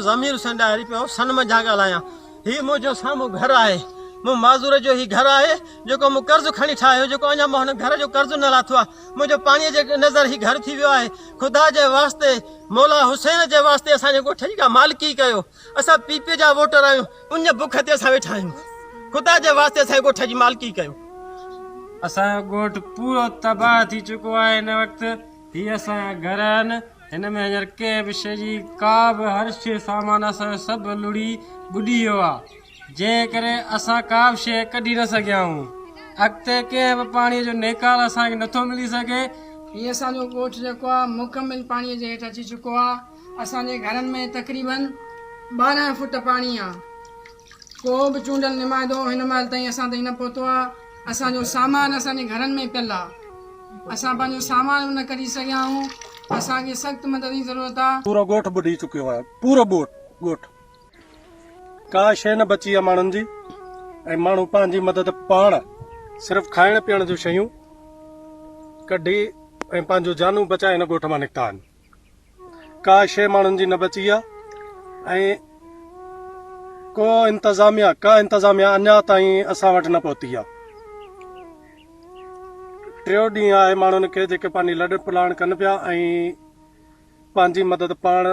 ضمير حسين ڏاهري پيو سن منجهان ڳالهايان هي منهنجو سامهون گهر آهي مون معذور جو هي گهر آهي جيڪو مون قرض کڻي ٺاهيو جيڪو اڃا مون هن گهر جو قرض نه لاٿو آهي منهنجو پاڻي جي نظر هي گهر ٿي ويو آهي خدا جي واسطي مولا حسين جي واسطي اسان جي ڳوٺ جي ڪا مالڪي ڪيو اسان پي پي جا ووٽر آهيون ان بک تي اسان ويٺا آهيون خدا جي واسطي اسان جي ڳوٺ جي مالڪي ڪيو اسان جو ڳوٺ پورو تباهه ٿي چڪو آهي هن وقت هي اسان جا گهر آهن هن ۾ هينئر ڪنهن به شيء جي ڪا به هر شيء سامان اسان جو سڀ لڙهي ٻڏي ويو آ جنهن ڪري اسان ڪا به شيء ڪڍي نه سگهيا آهيون اڳتي ڪنهن به پاڻي جو نيڪال اسان کي نٿو ملي سگهي. هي اسان جو ڳوٺ جيڪو آ مڪمل پاڻي جي هيٺ اچي چڪو آ اسان جي گهرن ۾ تقريبن ٻارهن فوٽ پاڻي آ. ڪو به چونڊيل نمائندو هن مهل تائين اسان تائين نه پهتو آهي، اسان جو سامان اسان جي گهرن ۾ پيل آهي، اسان پنهنجو سامان به نه ڪڍي سگهيا آهيون، اسان کي سخت مدد جي ضرورت آهي. پورو ڳوٺ ٻڏي چڪيو آهي، پورو ڳوٺ، ڪا شيء نه بچي آهي ماڻهن جي ۽ ماڻهو پنهنجي مدد پاڻ صرف کائڻ پيئڻ جون شيون ڪڍي ۽ پنهنجون جانون بچائي هن ڳوٺ مان نڪتا آهن. ڪا شيء ماڻهن جي نه بچي آ ۽ ڪو انتظاميا ڪا انتظاميا اڃا تائين اسان وٽ نه پهتي آ ٽيو ڏينهن آهي ماڻهن کي جيڪي پنهنجي لڏ پلاڻ ڪن پيا ۽ پنهنجي مدد پاڻ